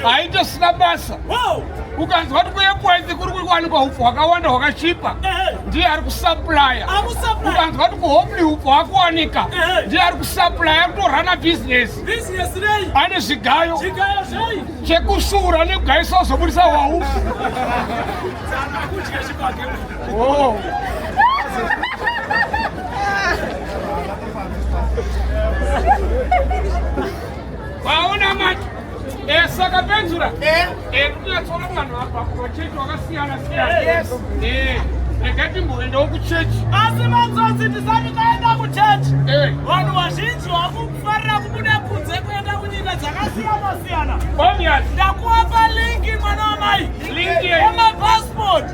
haitosina basa ukanzwa kuti kuekwenzi kuri kuwanikwa upfu hwakawanda hwakachipa ndiye ari kusaplaya ukanzwa kuti kuhomli upfu hwakuwanika ndiye ari kusaplaya kutorana bhizinesi ane zvigayo chekusura nekugayisa wazobudisa hwaufu oh. Waona manje eh, saka penzura eh. eh, kunyatsona vanhu apa kumachechi wakasiyana siyana eh, rega timboendawo kuchechi asi manzonzi tisati taenda kuchechi vanhu vazhinji vakufarira kubuda kunze kuenda kunyika dzakasiyana siyana ndakuwapa linki mwana wamai emapasipoti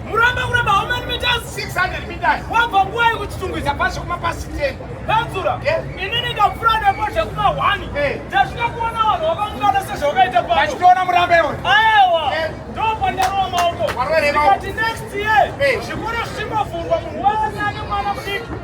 Muramba kuramba how many meters? 600 meters. Wabva nguva yekuchitungwiza pasi kuma pasi 10. Badzura. Yes. Ini ndikapfura nepo zvekuma 1. Eh. Ndasvika kuona vanhu vakangana sezvavakaita pano. Vachitoona muramba iwe. Aiwa. Yes. Ndopandarowa maoko. Warwere maoko. Ndikati next year. Eh. Zvikoro zvichingovhurwa munhu wese ane mwana mudiki.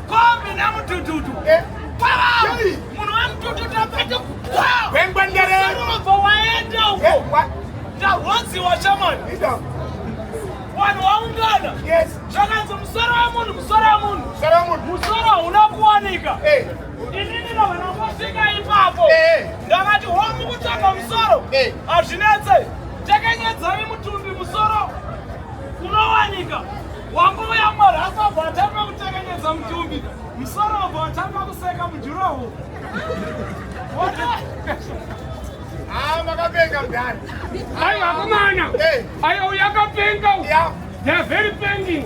Kombi na mutututu. Eh. Wow! Munhu wa mutututu apete kukwa. Wengwa ndere. Sarova waenda uko. Eh, Tarwonzi wa shaman. Ida. Wanhu waungana. Yes. Zvakanzi musoro wa munhu, musoro wa munhu. Musoro wa munhu. Musoro hauna kuwanika. Eh. Inini na vana vasvika ipapo. Eh. Ndakati homu kutsvaga musoro. Eh. Hazvinetse. Takanyadzari mutumbi musoro. Unowanika. Wambouya Mwari asabva atanga kutekenyedza mutumbi, musoro wabva watanga kuseka mujuraho. Ah, makapenga mdani. Ayi akomana. Ayi uyakapenga. Yeah. They are very pending.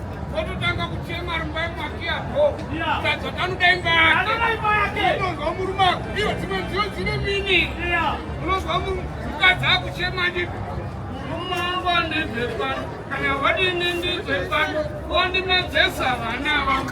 Ototanga kuchema ari mumba yemwake yako. Tadza tanoda imba yake. Unonzwa murume ako. Iyo dzimwe nziyo dzine mini. Unonzwa mukadzi akuchema ndi murume wangu andibve pano. Kana wadini ndibve pano. Wondimedzesa vana vangu.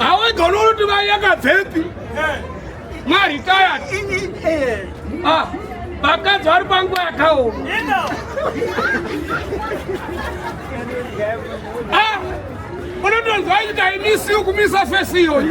awaigona unoti mai yakabvepi maritayati ah, vakadzi vari panguva yakaoma ah, unotonzwa nyika imisi yokumisa fesi iyoyi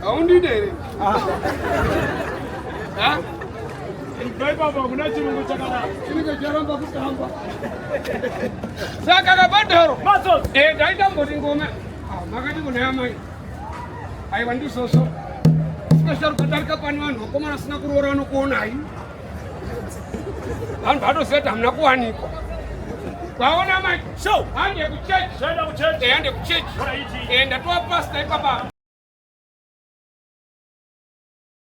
haundide here saka kabadharo eh, ndaitamboti ngoma ah, makati kunaya mai aiwa ndisoso sikasharukadarika pani vanhu vakomana asina kuroora vanokuonai vanhu vanoziva kuti hamuna kuwanikwa kwaona manje hande kuchechi hande kuchechi enda tova pasta ipapa